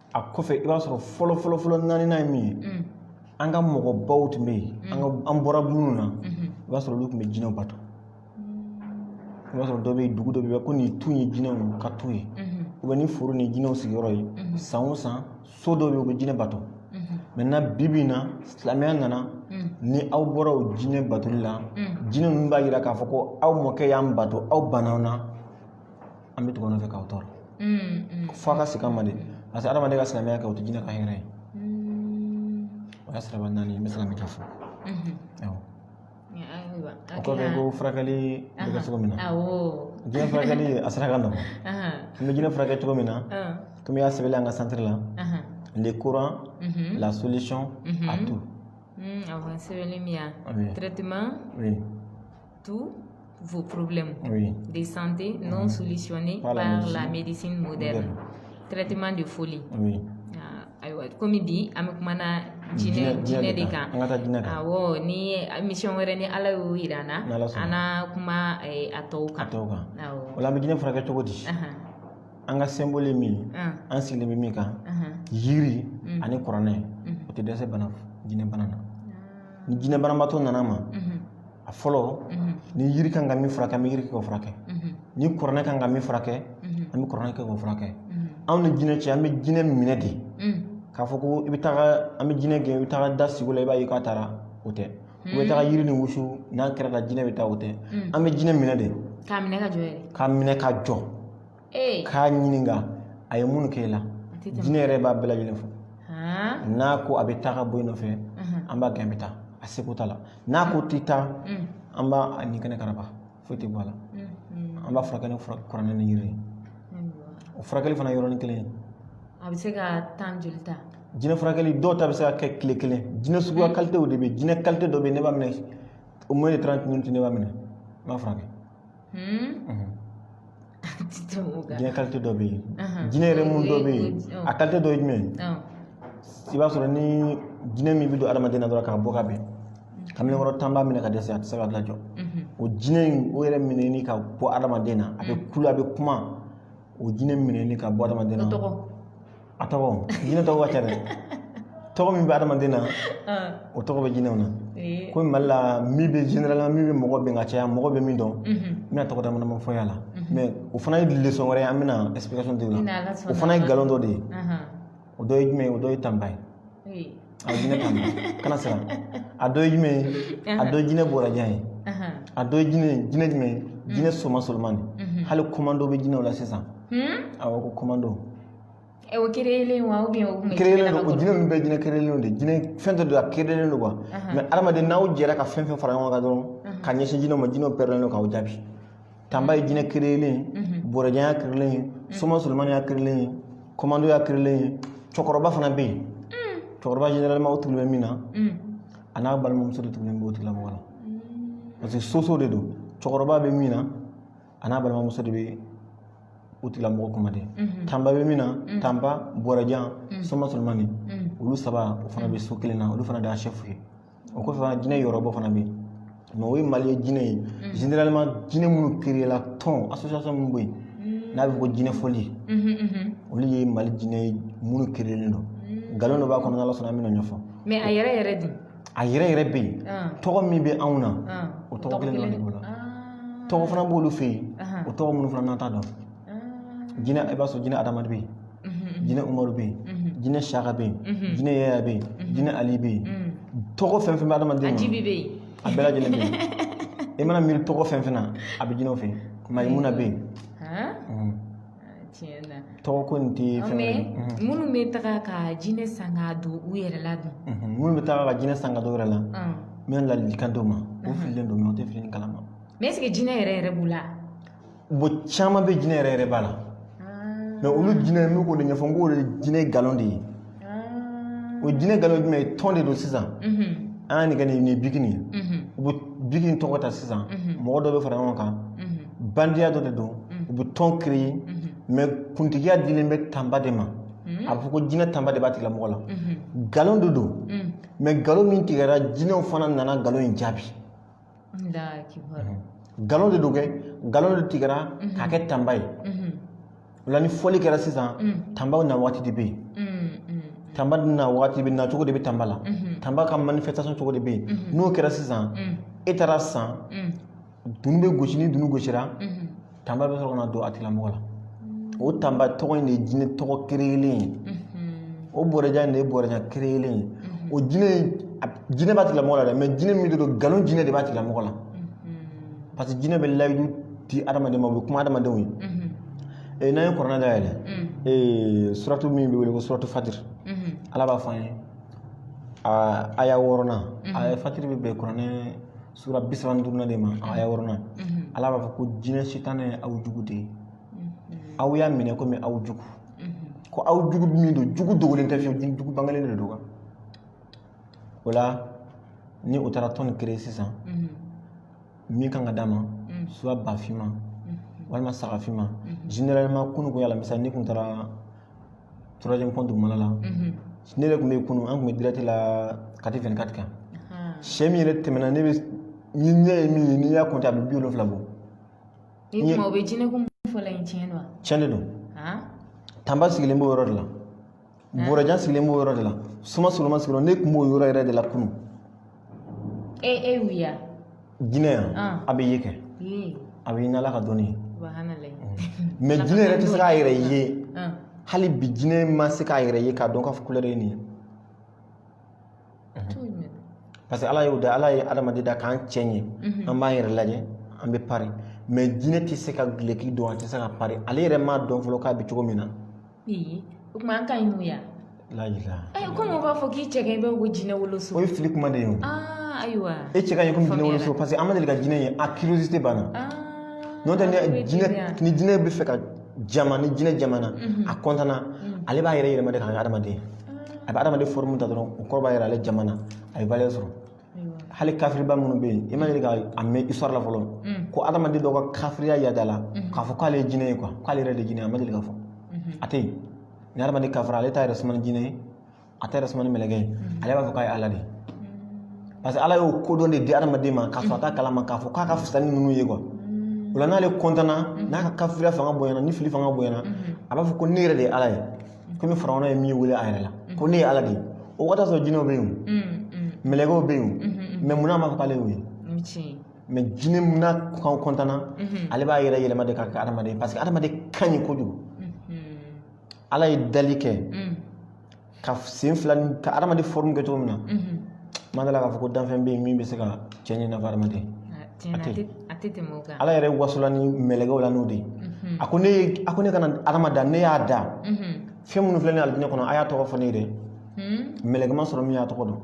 a kɔfɛ i b'a sɔrɔ fɔlɔ fɔlɔ fɔlɔ naani ye min ye an ka mɔgɔbaw tun bɛ yen an bɔra minnu na i b'a sɔrɔ olu tun bɛ jinɛw bato i b'a sɔrɔ dɔ bɛ yen dugu dɔ bɛ yen ko nin tu ye jinɛw ka tu ye ubiyɛn nin foro nin jinɛw sigiyɔrɔ ye san o san so dɔ bɛ yen u bɛ jinɛ bato mɛ na bi bi in na silamɛya nana ni aw bɔra o jinɛ batoli la jinɛ ninnu b'a jira k'a fɔ ko aw mɔkɛ y'an bato aw banna an na an bɛ tugu nɔfɛ k'aw tɔɔrɔ fo ka se ka mande parce que adamaden ka silamɛya kɛ o tɛ jinɛ ka hɛrɛ ye o y'a siraba naani n bɛ se ka min ka fɔ o kɔfɛ ko furakɛli bɛ kɛ cogo min na jinɛ furakɛli a sera ka nɔgɔ n bɛ jinɛ furakɛ cogo min na komi y'a sɛbɛnlen an ka santiri la le Coran la solution à tout sɛbɛnlen min yan traitement tous vos problèmes de santé non mhm. solutionnés par, la, médecine. moderne. Traitement de folie. Oui. Ah, ayiwa komi bi an bɛ kuma na jinɛ jinɛ de kan awɔ ni émission wɛrɛ ni ala y'o yira an na an na kuma eh, a tɔw kan o la an bɛ jinɛ furakɛ cogo di an ka symbole ye min ye ah. an sigilen bɛ min kan yiri mm. ani kuranɛ mm. o tɛ dɛsɛ bana jinɛ bana na ah. ni jinɛ banabaatɔ nana an ma mhm. a fɔlɔ ni yiri kan ka min furakɛ an bɛ yiri kɛ k'o furakɛ ni kuranɛ kan ka min furakɛ an bɛ kuranɛ kɛ k'o furakɛ anw ni jinɛ cɛ an bɛ jinɛ minɛ de k'a fɔ ko i bɛ taga an bɛ jinɛ gɛn i bɛ taga daga sigi la i b'a ye k'a taara o tɛ u bɛ taga yiri ni wusu n'a kɛra la jinɛ bɛ taa o tɛ an bɛ jinɛ minɛ de k'a minɛ ka jɔ k'a minɛ ka jɔ k'a ɲininka a ye mun kɛ i la jinɛ yɛrɛ b'a bɛɛ lajɛlen fɔ n'a ko a bɛ taa ka bɔ i nɔfɛ an b'a gɛn a bɛ taa a segu ta la n'a ko a tɛ taa an b'a nin kɛnɛ karaba foyi tɛ bɔ a la an b'a furakɛ ni kuranɛ ni yiri o furakɛli fana yɔrɔnin kelen a bɛ se ka temps joli ta jinɛ furakɛli dɔw ta bɛ se ka kɛ tile kelen jinɛ suguya kalitew de bɛ jinɛ kalite dɔ bɛ ne b'a minɛ un mois de traitement ne b'a minɛ n b'a furakɛ jinɛ kalite dɔ bɛ yen jinɛ yɛrɛ mun dɔ bɛ yen a kalite dɔ ye jumɛn ye i b'a sɔrɔ ni jinɛ min bɛ don adamaden na dɔrɔn k'a bɔ ka bɛn kamalen kɔrɔ tan b'a minɛ ka dɛsɛ a tɛ se k'a lajɔ o jinɛ in o yɛrɛ minɛni ka bɔ adamaden na a bɛ kulo a bɛ kuma o jinɛ minɛni ka bɔ adamaden na a tɔgɔ jinɛ tɔgɔ ka ca dɛ tɔgɔ min bɛ adamaden na o tɔgɔ bɛ jinɛw na ko mali la min bɛ jinɛ la min bɛ mɔgɔ bɛn ka caya mɔgɔ bɛ min dɔn n bɛna tɔgɔ dama dama fɔ a la mɛ o fana ye lesɔn wɛrɛ ye an bɛna ɛsipikasɔn di o la o fana ye kalan dɔ de ye o dɔ ye jumɛn ye o dɔ ye tanba ye a jinɛ tanba kana siran a dɔ ye jumɛn ye a dɔ ye jinɛ bɔrajan ye a dɔ ye jinɛ jinɛ jumɛn ye jinɛ soma solomani hali komando bɛ jinɛw la sisan awɔ ko komando Ɛ o créer wa ou bien o kun ye créer len don jinɛ ninnu bɛɛ jinɛ créer len de jinɛ fɛn dɔ don a créer len don quoi mais hadamaden n'aw jɛra ka fɛn fɛn fara ɲɔgɔn kan dɔrɔn ka ɲɛsin jinɛw ma jinɛw pɛrɛnlen don k'aw jaabi tanba ye jinɛ créer len borojɛ y'a créer len ye soma solomani y'a créer len ye komando y'a créer len ye cɛkɔrɔba fana bɛ yen cɛkɔrɔba généralement o tugulen bɛ min na a n'a balimamuso de tugulen b'o tigilamɔgɔ la parce que soso de don cɛkɔrɔba bɛ min na a n'a balimamuso de bɛ u tigilamɔgɔ kuma de tanba bɛ min na tanba bɔrɛjan soma solonmani olu saba o fana bɛ so kelen na olu fana de y'a sɛfu ye o kɔfɛ fana jinɛ yɔrɔbɔ fana bɛ yen mɛ o ye mali ye jinɛ ye generalema jinɛ minnu kirela tɔn asosiyasɔn minnu bɛ yen n'a bɛ fɔ ko jinɛ fɔli olu ye mali jinɛ ye minnu kirelen don nkalon dɔ b'a kɔnɔ n'ala sɔnna an bɛna ɲɛfɔ mɛ a yɛrɛ yɛrɛ de a yɛrɛ yɛrɛ bɛ yen tɔgɔ min bɛ anw na o tɔgɔ kelen dɔ de b'o la tɔgɔ fana b'olu fɛ yen o tɔgɔ minnu fana n'an t'a dɔn jinɛ i b'a sɔrɔ jinɛ adama de bɛ yen jinɛ umaru bɛ yen jinɛ saka bɛ yen jinɛ yaya bɛ yen jinɛ ali bɛ yen tɔgɔ fɛn fɛn bɛ adamaden na a bɛɛ lajɛlen bɛ yen i mana miiri tɔgɔ fɛn fɛn na a bɛ jinɛw fɛ yen mayimuna bɛ yen tiɲɛ na tɔgɔ ko nin tɛ fɛn ye minnu bɛ taga ka jinɛ san ka don u yɛrɛ la dun minnu bɛ taga ka jinɛ san ka don u yɛrɛ la n bɛ ladilikan d'u ma u fililen don u tɛ fili kalama mɛ ɛseke jinɛ yɛrɛ yɛrɛ b'u la bon caman bɛ jinɛ yɛrɛ yɛrɛ b'a la mɛ olu jinɛ n'u k'o de ɲɛfɔ n k'o de jinɛ nkalon de ye o jinɛ nkalon jumɛn ye tɔn de don sisan an y'a nin kɛ nin bikini ye u bɛ bikini tɔgɔ ta sisan mɔgɔ dɔ bɛ fara ɲɔgɔn kan bandiya dɔ de don u bɛ tɔn kireye mɛ kuntigiya dilen bɛ tanba de ma a bɛ fɔ ko jinɛ tanba de b'a tigilamɔgɔ la nkalon de don mɛ nkalon min tigɛra jinɛw fana nana nkalon in jaabi nkalon de don kɛ nkalon de tigɛra k'a kɛ tanba ye o la ni fɔli kɛra sisan tanba na waati de bɛ yen tanba na waati bɛ na cogo de bɛ tanba la tanba ka manifestation cogo de bɛ yen n'o kɛra sisan e taara san dunun bɛ gosi ni dunun gosira tanba bɛ sɔrɔ ka na don a tigilamɔgɔ la o tanba tɔgɔ in de ye jinɛ tɔgɔ kirelen ye o bɔrɛjan in de ye bɔrɛjan kirelen ye o jinɛ jinɛ b'a tigilamɔgɔ la dɛ mɛ jinɛ min de don nkalon jinɛ de b'a tigilamɔgɔ la parce que jinɛ bɛ layidu di adamaden ma o bɛ kuma adamadenw ye ee n'an ye kuranɛ dayɛlɛ ee suratu min bɛ wele ko suratu fatiri ala b'a fɔ an ye aya wɔɔrɔnan aya fatiri bɛ bɛn kuranɛ sura bi saba ni duurunan de ma aya wɔɔrɔnan ala b'a fɔ ko jinɛ sitanɛ ye aw jugu de ye aw y'a minɛ komi aw jugu ko aw jugu min don jugu dogolen tɛ fiyewu jugu bangelen de don kan o la ni o taara tɔn kireye sisan min kan ka d'a ma suwa ba finman walima saga finman generalema kunun kun y'a la misali n'i kun taara troisième pont dugumana la ne yɛrɛ tun bɛ kunun an tun bɛ dirɛti la kati fɛn kati kan sɛ min yɛrɛ tɛmɛna ne bɛ ni ɲɛ ye min ye n'i y'a kɔnte a bɛ bi wolonfila bɔ ni tuma o bɛ jinɛ ko fɔlɔ in tiɲɛ don tiɲɛ de don tanba sigilen b'o yɔrɔ de la bɔrɛjan sigilen b'o yɔrɔ de la suma soloma sigilen ne tun b'o yɔrɔ yɛrɛ de la kunun e e wuya jinɛ yan Ah. a bɛ ye kɛ ye a bɛ ye n'ala ka dɔnni ye subhanallah mɛ jinɛ yɛrɛ tɛ se k'a yɛrɛ ye ah hali bi jinɛ ma se k'a yɛrɛ ye k'a dɔn k'a fɔ kulɛri ye nin ye tiɲɛ parce que ala y'o da ala ye adamaden da k'an cɛ ɲɛ an b'an yɛrɛ lajɛ an bɛ pari mɛ jinɛ tɛ se ka gileki don a tɛ se ka pari ale yɛrɛ m'a dɔn fɔlɔ k'a bɛ cogo min na o tuma an ka ɲi n'u ye komi u b'a fɔ k'i cɛ i bɛ ko jinɛ wolo so o ye fili kuma de ye ayiwa e cɛ ka ɲi komi jinɛ wolo so parce que an ma deli ka jinɛ ye a curiosité b'an na n'o tɛ ni jinɛ ni jinɛ bɛ fɛ ka jama ni jinɛ jamana a kɔntana ale b'a yɛrɛ yɛlɛma de k'a kɛ adamaden a bɛ adamaden fɔrmu ta dɔrɔn o kɔrɔ b'a yira ale jamana a ye valeur sɔrɔ hali kafiriba minnu bɛ yen i ma deli ka a mɛn histoire la fɔlɔ ko adamaden dɔ ka kafiriya yadala k'a fɔ k'ale ye jinɛ ye k'ale yɛrɛ de jinɛ a ma deli ka fɔ a tɛ yen ni adamaden kafira ale t'a yɛrɛ suman ni jinɛ ye a t'a yɛrɛ suman ni mɛlɛkɛ ye ale b'a fɔ k'a ye ala de ye parce que ala y'o kodɔn de di adamaden ma k'a sɔrɔ a t'a kalama k'a fɔ k'a ka fisa ni ninnu ye quoi o la n'ale kɔntana n'a ka kafiriya fanga bonyana ni fili fanga bonyana a b'a fɔ ko ne yɛrɛ de ye ala ye komi farawuna ye min wele a yɛrɛ la ko ne ye ala de ye o waati sɔrɔ jinɛw bɛ yen mɛlɛkɛw bɛ yen mɛ munna a m'a fɔ k'ale y'o ye mɛ jinɛ munna n'a kɔntana ale b'a yɛrɛ yɛlɛma de k'a kɛ adamaden parce que adamaden ka ɲi kojugu ala ye dali kɛ ka sen fila ni ka adamaden fɔrmu kɛ cogo min na n ma da a la k'a fɔ ko danfɛn bɛ yen min bɛ se ka cɛ ɲɛ i n'a fɔ adamaden a tɛ tɛmɛ o kan ala yɛrɛ wasola ni mɛlɛkɛw la n'o de ye mhm. a ko ne a ko ne kana adama da ne y'a da mhm. fɛn minnu filɛ nin alijinɛ kɔnɔ a y'a tɔgɔ fɔ ne ye dɛ mhm. mɛlɛkɛ ma sɔrɔ min y'a tɔgɔ dɔn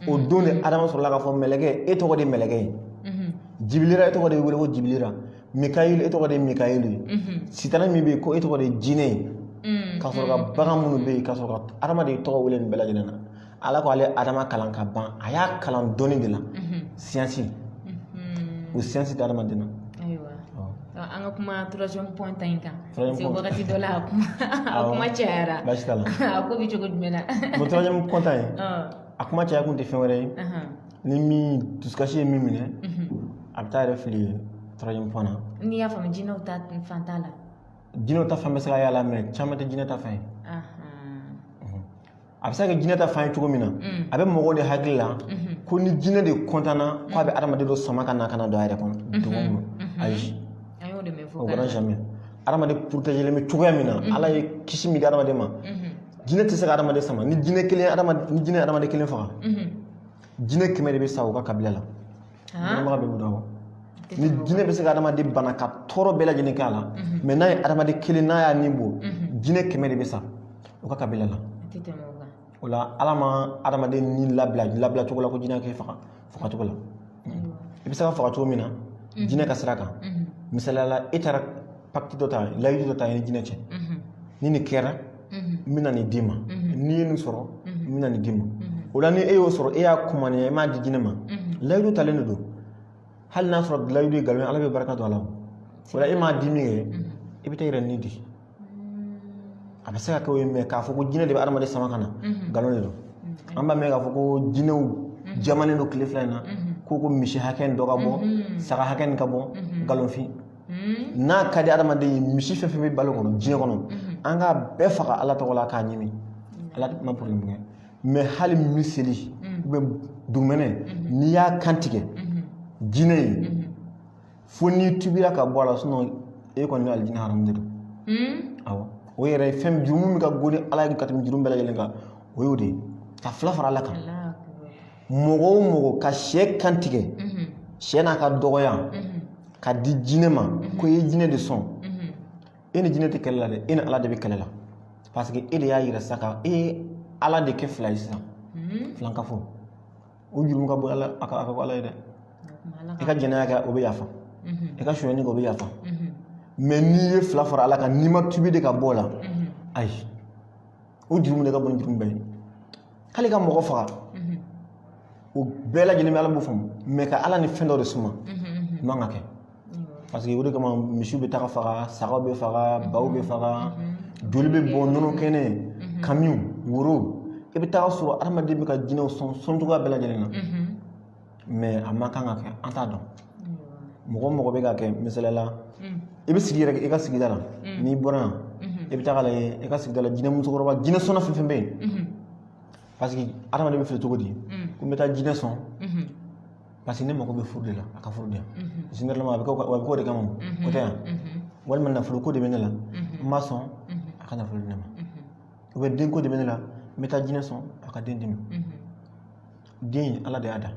o don de adama sɔrɔla k'a fɔ mɛlɛkɛ e tɔgɔ de mɛlɛkɛ ye jibilira e tɔgɔ de bɛ wele ko jibilira mikayilu e tɔgɔ de mikayilu ye sitana min bɛ yen ko e tɔgɔ de jinɛ ye ka sɔrɔ ka bagan minnu bɛ yen ka sɔrɔ ka adamaden tɔgɔ wele nin bɛɛ lajɛlen na Ala ko ale adama kalan ka ban a y'a kalan dɔnni de la siyansi o siyansi tɛ adamaden na an ka kuma troisième point ta in kan parce que wagati dɔ la a kuma a kuma cayara baasi t'a la a ko bɛ cogo jumɛn na o troisième point ta in a kuma caya kun tɛ fɛn wɛrɛ ye ni min dusukasi ye min minɛ a bɛ taa a yɛrɛ fili troisième point na n'i y'a faamu jinɛw ta fan t'a la jinɛw ta fan bɛ se ka y'a la mɛ caman tɛ jinɛ ta fan ye a bɛ se ka kɛ jinɛ ta fan ye cogo min na a bɛ mɔgɔw de hakili la ko ni jinɛ de kɔntanna ko a bɛ adamaden dɔ sama ka na ka na don a yɛrɛ kɔnɔ dugu kɔnɔ ayi o kɛra jamais adamaden porotegelen bɛ cogoya min na ala ye kisi min di adamaden ma jinɛ tɛ se ka adamaden sama ni jinɛ kelen ni jinɛ adamaden kelen faga jinɛ kɛmɛ de bɛ sa u ka kabila la Dɔnbaga bɛ mun dɔn ni jinɛ bɛ se ka adamaden bana ka tɔɔrɔ bɛɛ lajɛlen k'a la mais n'a ye adamaden kelen n'a y'a ni bɔ jinɛ kɛmɛ de bɛ sa o ka kabila la o la ala ma adamaden ni labila labila cogo la ko jinɛ k'i faga fagacogo la i bɛ se ka faga cogo min na jinɛ ka sira kan misaliya la e taara pacte dɔ ta layidu dɔ ta i ni jinɛ cɛ ni nin kɛra n bɛna nin d'i ma n'i ye nin sɔrɔ n bɛna nin d'i ma o la ni e y'o sɔrɔ e y'a kumaniya e m'a di jinɛ ma layidu talen de don hali n'a sɔrɔ layidu ye nkalon ye ala bɛ barika don a la o la e m'a di min kɛ i bɛ taa i yɛrɛ ni di a bɛ se ka kɛ o ye mais k'a fɔ ko jinɛ de bɛ adamaden sama ka na nkalon de don an b'a mɛn k'a fɔ ko jinɛw jamannen don tile fila in na ko ko misi hakɛ dɔ ka bɔ saga hakɛ ka bɔ nkalonfin Hmm. N'a ka di hadamaden ye misi fɛn fɛn bɛ balo kɔnɔ diɲɛ kɔnɔ hmm. an k'a bɛɛ faga ala tɔgɔ la k'a ɲimi hmm. ala ma problème kɛ mais hali miseli ou bien dugumɛnɛ n'i y'a kan tigɛ jinɛ ye fo n'i tubira ka bɔ a la sinon e kɔni bɛ alijinɛ haramu de don awɔ o yɛrɛ ye fɛn jurumu min ka goni ala ye ka tɛmɛ jurumu bɛɛ lajɛlen kan o y'o de ye ka fila fara ala kan mɔgɔ o mɔgɔ ka sɛ kantigɛ sɛ n'a ka dɔgɔya ka di jinɛ ma ko i ye jinɛ de sɔn e ni jinɛ tɛ kɛlɛ la dɛ e ni ala de bɛ kɛlɛ la parce que e de y'a yira sa ko e ye ala de kɛ fila ye sisan filankafo o jurumu ka bon ala a ka a ka bon ala ye dɛ i ka jɛnɛya kɛ o bɛ yafa i ka sonyani kɛ o bɛ yafa mais n'i ye fila fara ala kan n'i ma tubi de ka bɔ o la ayi o jurumu de ka bon ni jurumu bɛɛ ye hali ka mɔgɔ faga o bɛɛ lajɛlen bɛ ala b'o faamu mais ka ala ni fɛn dɔ de suma o man kan ka kɛ parce que o de kama misiw bɛ taga faga sagaw bɛ faga baw bɛ faga joli bɛ bɔn nɔnɔ kɛnɛ kamiw woro i bɛ taga sɔrɔ adamaden bɛ ka jinɛw sɔn sɔn cogoya bɛɛ lajɛlen na a man kan ka kɛ an t'a dɔn mɔgɔ mɔgɔ bɛ k'a kɛ misaliya la i bɛ sigi yɛrɛ i ka sigida la n'i bɔra yan i bɛ taa lajɛ i ka sigida la jinɛ musokɔrɔba jinɛ sɔnna fɛn fɛn bɛ yen parce que adamaden bɛ fili cogo di ko n bɛ taa jinɛ sɔn parce que ne mago bɛ furu de la a ka furu di parce que ne a bɛ k'o de kama o tɛ yan walima nafolo ko de bɛ ne la n b'a sɔn a ka nafolo di ne ma ou bien denko de bɛ ne la n bɛ taa jinɛ sɔn a ka den di n ma den ala de y'a da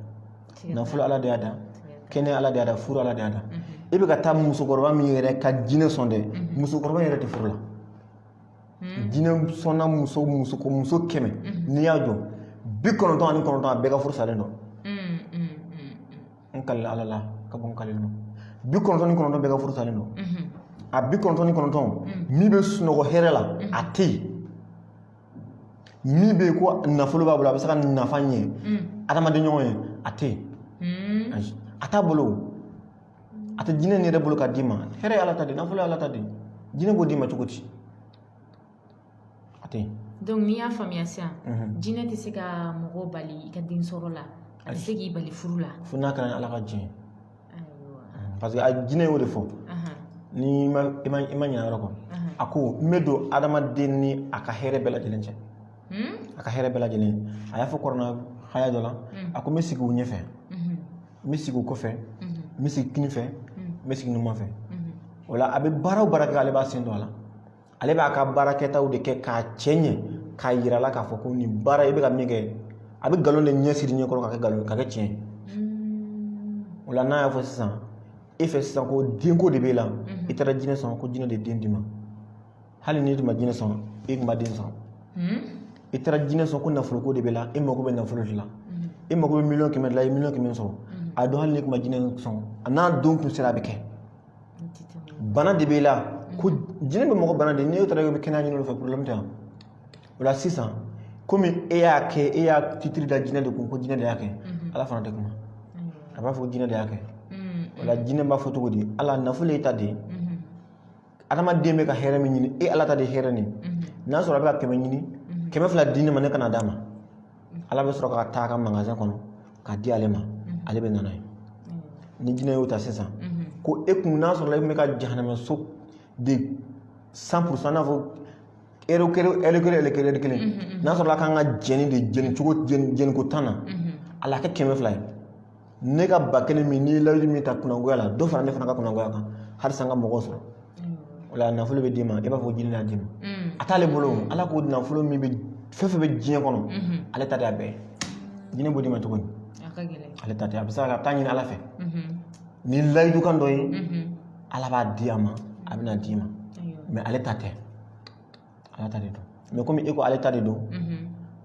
nafolo ala de y'a da kɛnɛya ala de y'a da furu ala de y'a da e bɛ ka taa musokɔrɔba min yɛrɛ ka jinɛ sɔn dɛ musokɔrɔba yɛrɛ tɛ furu la jinɛ sɔnna muso muso muso kɛmɛ n'i y'a jɔ bi kɔnɔntɔn ani kɔnɔntɔn a bɛɛ ka furu salen don n kalila ala la ka bɔ n kalila bi kɔnɔntɔn ni kɔnɔntɔn bɛɛ ka furu salen don a bi kɔnɔntɔn ni kɔnɔntɔn min bɛ sunɔgɔ hɛrɛ la a tɛ yen min bɛ yen ko nafolo b'a bolo a bɛ se ka nafa ɲɛ adamaden ɲɔgɔn ye a tɛ yen ayi a t'a bolo a tɛ jinɛ nin yɛrɛ bolo ka d'i ma hɛrɛ ye ala ta de nafolo ye ala ta de jinɛ b'o d'i ma cogo di a tɛ yen donc n'i y'a faamuya sisan jinɛ tɛ se ka mɔgɔ bali i ka den sɔrɔ la a tɛ se k'i bali furu la fo n'a kɛra ni ala ka jɛn ye parce que a jinɛ y'o de fɔ ni i ma ɲinɛ yɔrɔ kɔ a ko n bɛ don adamaden ni a ka hɛrɛ bɛɛ lajɛlen cɛ hmm? a ka hɛrɛ bɛɛ lajɛlen a y'a fɔ kuranɛ haya dɔ la hmm. a ko n bɛ sigi u ɲɛfɛ hmm. n bɛ sigi u kɔfɛ n bɛ sigi kini fɛ n bɛ sigi numan fɛ o la a bɛ baara o baara kɛ ale b'a sen don a la ale b'a ka baara kɛtaw de kɛ k'a cɛ ɲɛ k'a yira i la k'a fɔ ko nin baara i bɛ ka min kɛ a bɛ nkalon de ɲɛsiri ɲɛ kɔrɔ ka kɛ nkalon ka kɛ tiɲɛ hmm. o la n'a y'a fɔ sisan e fɛ sisan ko denko de b'e la hmm. i taara jinɛ sɔn ko jinɛ de den d'i ma hali n'i tun ma jinɛ sɔn e tun na den sɔrɔ hmm. i taara jinɛ sɔn ko nafoloko de b'e la e mago bɛ nafolo de la e mago bɛ miliyɔn kɛmɛ de la i ye miliyɔn kɛmɛ sɔrɔ a dɔn hali n'i tun ma jinɛ sɔn a n'a don tun sera a bɛ kɛ bana de b'i la ko jinɛ bɛ mɔgɔ bana de n'i taara i bɛ kɛnɛya ɲini o fɛ porobilɛmu tɛ yan o la sisan komi e y'a kɛ e y'a titiri da jinɛ de kun ko jinɛ de y'a kɛ ala fana tɛ kuma a b'a fɔ ko jinɛ de y'a kɛ o la jinɛ b'a fɔ cogo di ala nafolo y'i ta de ye adamaden bɛ ka hɛrɛ min ɲini e ala ta de ye hɛrɛ nin ye n'a sɔrɔ a bɛ ka kɛmɛ ɲini kɛmɛ fila di ne ma ne ka na d'a ma ala bɛ sɔrɔ ka ta a ka magazɛn kɔnɔ ka di ale ma ale bɛ na n'a ye ni jinɛ y'o ta sisan ko e kun n'a sɔrɔ e tun bɛ ka jahanama so de san purusan n'a fɔ ɛri kelen ɛri kelen ɛri kelen ɛri kelen n'a sɔrɔ a kan ka jɛni de jɛni cogo jɛni ko tan na ala kɛ kɛmɛ fila ye ne ka ba kelen min n'i ye layidu min ta kunangoya la dɔ fara ne fana ka kunangoya kan halisa n ka mɔgɔ sɔrɔ o la nafolo bɛ d'i ma i b'a fɔ jinɛ y'a d'i ma a t'ale bolo ala ko nafolo min bɛ fɛn fɛn bɛ diɲɛ kɔnɔ ale ta de y'a bɛɛ jinɛ b'o d'i ma cogo di ale ta tɛ a bɛ se ka taa ɲini ala fɛ ni layidu kan dɔ ye ala b'a di a ma a bɛna d'i ma mɛ ale ta tɛ ala ta de don mɛ komi e ko ale ta de don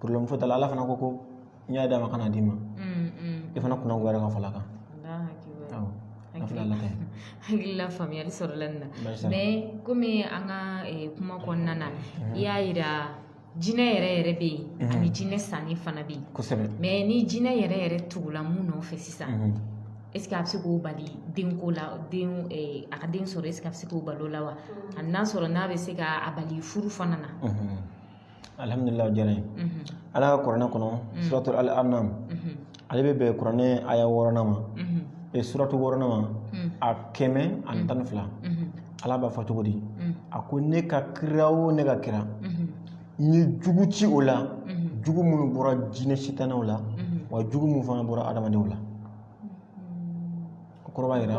poroblɛmu foyi t'a la ala fana ko ko n y'a d'a ma ka na d'i ma e fana kunangoyara ka fara a kan hakili la faamuyali sɔrɔla nin na mɛ komi an ka kuma kɔnɔna na i y'a yira jinɛ yɛrɛ yɛrɛ bɛ yen ani jinɛ sanni fana bɛ yen mɛ ni jinɛ yɛrɛ yɛrɛ tugula mɔgɔ nɔfɛ sisan a bɛ se k'o bali denko la den a ka den sɔrɔ est-ce que a bɛ se k'o bali o la wa a n'a sɔrɔ n'a bɛ se ka a bali furu fana na alihamudulila diyara n ye ala ka kuranɛ kɔnɔ suratu al anam ale bɛ bɛn kuranɛ aya wɔɔrɔnan ma e suratu wɔɔrɔnan ma a kɛmɛ ani tan ni fila ala b'a fɔ cogo di a ko ne ka kira o ne ka kira N ye jugu ci o la jugu minnu bɔra jinɛ sitanɛw la wa jugu minnu fana bɔra adamadenw la o kɔrɔ b'a yira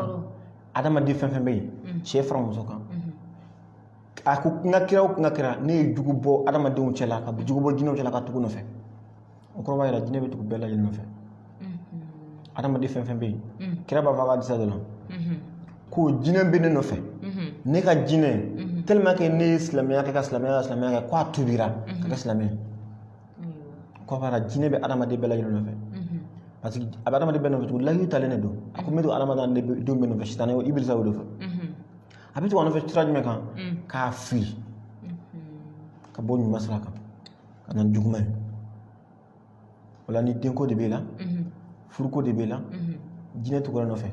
adamaden fɛn fɛn bɛ yen cɛ fara muso kan a ko n ka kira o n ka kira ne ye jugu bɔ adamadenw cɛla ka jugu bɔ jinɛw cɛla ka tugu nɔfɛ o kɔrɔ b'a jira jinɛ bɛ tugu bɛɛ lajɛlen nɔfɛ adamaden fɛn fɛn bɛ yen kira b'a fɔ a ka hadisa dɔ la ko jinɛ bɛ ne nɔfɛ ne ka jinɛ tellement que ne ye silamɛya kɛ ka silamɛya ka silamɛya kɛ ko a tubira ka kɛ silamɛ ye o kɔrɔ b'a jira jinɛ bɛ adamaden bɛɛ lajɛlen nɔfɛ parce que a bɛ adamaden bɛɛ nɔfɛ tugun layidu talen de don a ko n bɛ to adamaden denw bɛɛ nɔfɛ sitanɛ ibilisa o de fɛ a bɛ to a nɔfɛ sira jumɛn kan k'a fili ka bɔ ɲuman sira kan a na ni juguman ye o la ni denko de b'e la furuko de b'e la jinɛ tugura nɔfɛ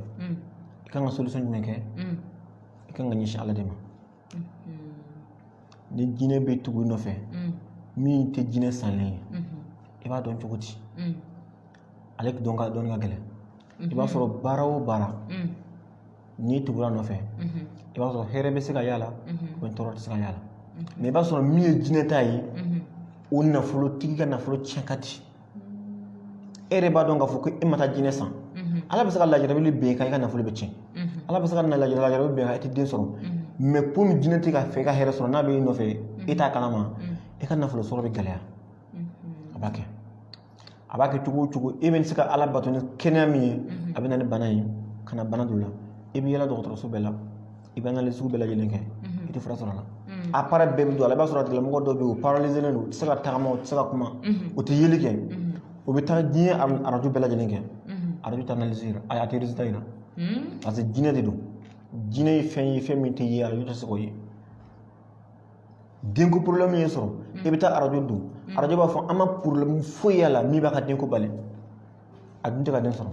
i kan ka solution jumɛn kɛ i kan ka ɲɛsin ala de ma ni jinɛ bɛ tugu i nɔfɛ min tɛ jinɛ sanlen ye i b'a dɔn cogo di ale dɔn ka dɔnni ka gɛlɛn i b'a sɔrɔ baara o baara n'i tugura a nɔfɛ i b'a sɔrɔ hɛrɛ bɛ se ka y'a la tɔɔrɔ tɛ se ka y'a la mɛ i b'a sɔrɔ min ye jinɛ ta ye o nafolo tigi ka nafolo tiɲɛ ka di e yɛrɛ b'a dɔn k'a fɔ ko e ma taa jinɛ san ala bɛ se ka lajarabi bɛn i kan i ka nafolo bɛ tiɲɛ ala bɛ se ka lajarabi bɛn i kan i tɛ den sɔrɔ mɛ komi jinɛ t'a fɛ i ka hɛrɛ sɔrɔ n'a bɛ e nɔfɛ e t'a kalama e ka nafolo sɔrɔ bɛ gɛlɛya a b'a kɛ a b'a kɛ cogo o cogo e bɛ se ka ala bato ni kɛnɛya min ye a bɛ na ni bana ye ka na bana don la i bɛ yaala dɔgɔtɔrɔso bɛɛ la i bɛ analyse sugu bɛɛ lajɛlen kɛ i tɛ fura sɔrɔ a la appareil bɛɛ bɛ don a la i b'a sɔrɔ a tigilamɔgɔ dɔw bɛ yen u paralyselen don u tɛ se ka tagama u tɛ se ka kuma u tɛ yeli kɛ u bɛ taa diɲɛ arajo bɛɛ lajɛlen kɛ arajo tɛ analyse yira a tɛ résultat yira parce que jinɛ de don jinɛ ye fɛn ye fɛn min tɛ ye arajo tɛ se k'o ye denko porobilɛmu y'i sɔrɔ i bɛ taa arajo don arajo b'a fɔ an ma porobilɛmu foyi y'a la min b'a ka denko bali a dun tɛ ka den sɔrɔ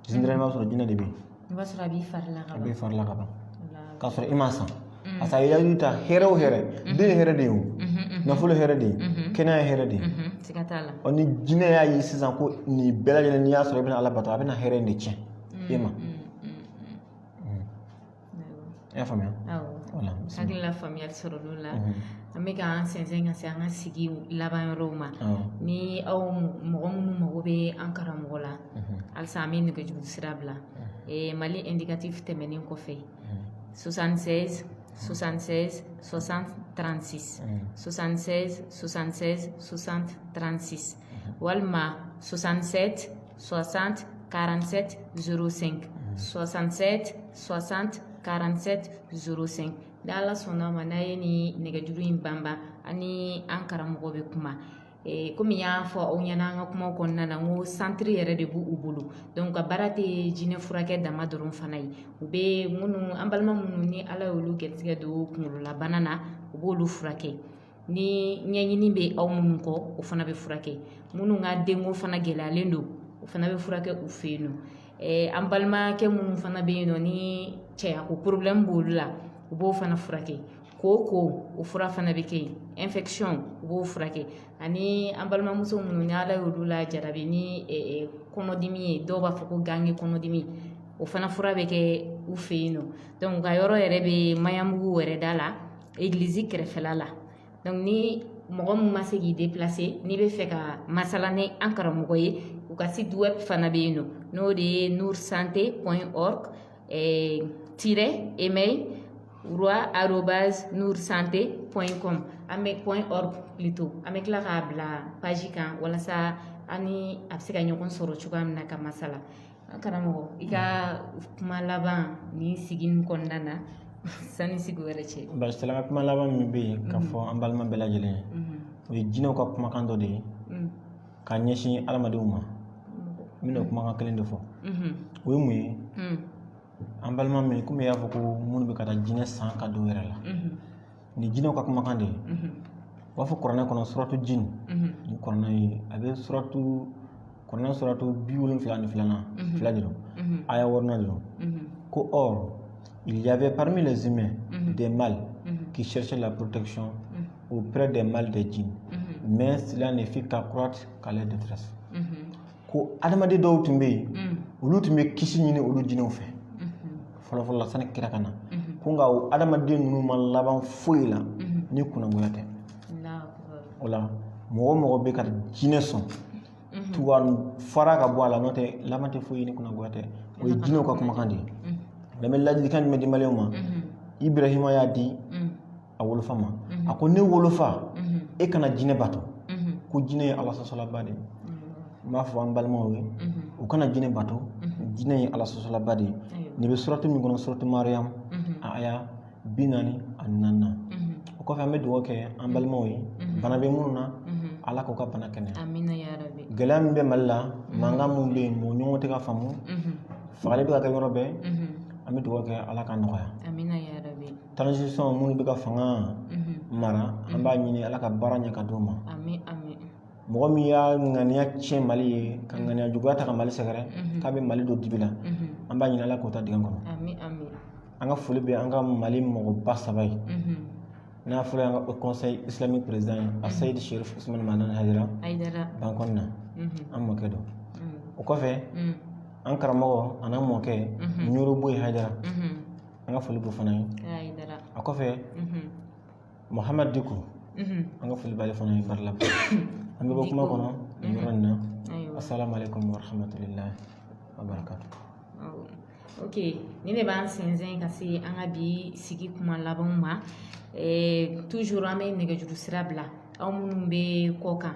généralement i b'a sɔrɔ jinɛ de bɛ yen i b'a sɔrɔ a b'i fari la ka ban a b'i fari la ka ban Voilà. k'a sɔrɔ i m'a san parce que a y'i ta hɛrɛ o hɛrɛ den ye hɛrɛ de ye o Mhm, nafolo ye hɛrɛ de ye Mhm. kɛnɛya ye hɛrɛ de ye mhm, siga t'a la ɔ ni jinɛ y'a ye sisan ko nin bɛɛ lajɛlen n'i y'a sɔrɔ i bɛna ala bato a bɛna hɛrɛ in de tiɲɛ e ma Mm, mm, mm. i y'a faamuya hakili la faamuyali sɔrɔ olu la an bɛ k'an sɛnsɛn ka se an ka sigi laban yɔrɔ ma ni aw mɔgɔ minnu mago bɛ an karamɔgɔ la halisa an bɛ nɛgɛjuru sira bila mali indicatif tɛmɛnen kɔfɛ sosansen sosansen sosan transi sosansen sosansen sosan transi walima soixante-sept soixante quarante-sept zéro cinq soixante-sept soixante quarante-sept zéro cinq n' ala sɔnna a ma n'aw ye nin nɛgɛjuru in banba aw ni an karamɔgɔ bɛ kuma kɔmi n y'a fɔ aw ɲɛna an ka kuma kɔnɔna na ko santiri yɛrɛ de b' u bolo dɔnki u ka baara tɛ jinɛ furakɛ dama dɔrɔn fana ye u bɛ minnu an balima minnu ni ala ye olu garijɛgɛ don kunkololabana na u b'olu furakɛ ni ɲɛɲini bɛ aw minnu kɔ o fana bɛ furakɛ minnu ka denko fana gɛlɛyalen don o fana bɛ furakɛ u fɛ yen nɔ an balimakɛ minnu fana bɛ yen nɔ ni cɛya ko b'olu la u b'o fana furakɛ ko ko o fura fana bɛ kɛ yen u b'o furakɛ ani an balimamuso minnu ni ala y'olu lajarabi ni kɔnɔdimi ye dɔw b'a fɔ ko ganke kɔnɔdimi o fana fura bɛ kɛ u fɛ yen nɔ u ka yɔrɔ yɛrɛ bɛ maɲanbugu wɛrɛda la egilizi kɛrɛfɛla la dɔnki ni mɔgɔ min ma se k'i deplase n'i bɛ fɛ ka masala ni an karamɔgɔ ye u ka site web fana bɛ yen nɔ n'o de ye nour santé point org tiret email roi arobase nour santé point com am point org plutôt an bɛ tila k'a bila paji kan walasa an ni aw bɛ se ka ɲɔgɔn sɔrɔ cogoya min na ka masala An karamɔgɔ i ka kuma laban nin sigi kɔnɔna na sanni sigi wɛrɛ cɛ bisimila n ka kuma laban min bɛ yen k'a fɔ an balima bɛɛ lajɛlen ye o ye jinɛw ka kumakan dɔ de ye ka ɲɛsin adamadenw ma n bɛna kumakan kelen de fɔ o ye mun ye an balima min komi y'a fɔ ko minnu bɛ ka taa jinɛ san k'a don yɛrɛ la nin jinɛw ka kumakan de ye u b'a fɔ kuranɛ kɔnɔ suratu jini ni kuranɛ ye a bɛ suratu kuranɛ suratu bi wolonfila ni filanan fila de don aya wɔɔrɔnan de don ko or il y avait parmi les humains des mâles qui cherchaient la protection auprès des mâles des djinns mais cela ne fit qu'accroître que leur détresse ko adamaden dɔw tun bɛ yen mm. olu tun bɛ kisi ɲini olu jinɛw fɛ mm-hmm. fɔlɔfɔlɔla sani kira ka na mm-hmm. ko nka o adamaden ninnu ma laban foyi la mm-hmm. ni kunnagoya tɛ o la mɔgɔ o mɔgɔ bɛ ka jinɛ sɔn tuwa fara ka bɔ a la n'o tɛ a laban tɛ foyi ni kunnagoya tɛ o ye jinɛw ka kumakan de ye n bɛ ladilikan jumɛn di maliyɛnw ma ibrahima y'a di a wolofa ma a ko ne wolofa e kana jinɛ bato ko jinɛ ye ala sɔsɔlaba de ye n b'a fɔ an balimaw ye u kana jinɛ bato jinɛ ye ala sɔsɔlaba de ye nin bɛ suratu min kɔnɔ suratu mariyamu a aya bi naani ani naaninan o kɔfɛ an bɛ dugawu kɛ an balimaw ye bana bɛ minnu na ala k'u ka bana kɛnɛya Amina ya rabi. gɛlɛya min bɛ mali la mankan min bɛ yen mɔgɔw ɲɔgɔn tɛ ka faamu Mhm. fagali bɛ ka kɛ yɔrɔ bɛɛ Mhm. an bɛ dugawu kɛ ala ka nɔgɔya Amina ya rabi. transition minnu bɛ ka fanga mara an b'a ɲini ala ka baara ɲɛ ka d'u ma mɔgɔ min y'a ŋaniya tiɲɛ mali ye ka ŋaniya juguya ta ka mali sɛgɛrɛ k'a bɛ mali don dibi la an b'a ɲini ala k'o ta dig'a kɔnɔ an ka foli bɛ an ka mali mɔgɔba saba ye n'a fɔra an ka conseil islamique president ye asayidi sherif usman madani hayidara bankɔni na an mɔkɛ don o kɔfɛ an karamɔgɔ an'an mɔkɛ ɲoro buye hayidara an ka foli b'o fana ye a kɔfɛ muhamadu diko an ka foli b'ale fana ye badala an bɛ bɔ kuma kɔnɔ nin yɔrɔ nin na asalaamaaleykum warahmatulahi wabarakatu ok ni ne b'an sinsin ka se an ka bi sigi kuma labanw ma toujours an bɛ nɛgɛjuru sira bila aw minnu bɛ kɔ kan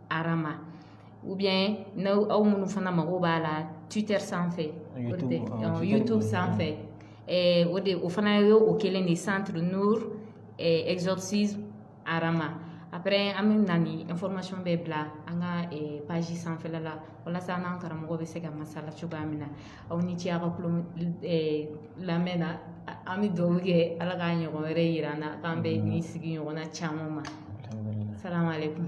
arama u bɛ n' aw minnu fana mago b'a la tute sanfɛ to sanfɛ o de o fana ye o kɛlen de san nizsi arama ap an bɛ na ni information bɛɛ bila an ka page sanfɛ la walasa n'an karamɔgɔ bɛ se ka masala cogoya min na aw ni ce ka lamɛn na an bɛ duwawu kɛ ala ka ɲɔgɔn wɛrɛ jira an na k'an bɛ ni sigi ɲɔgɔn na caman ma sara kun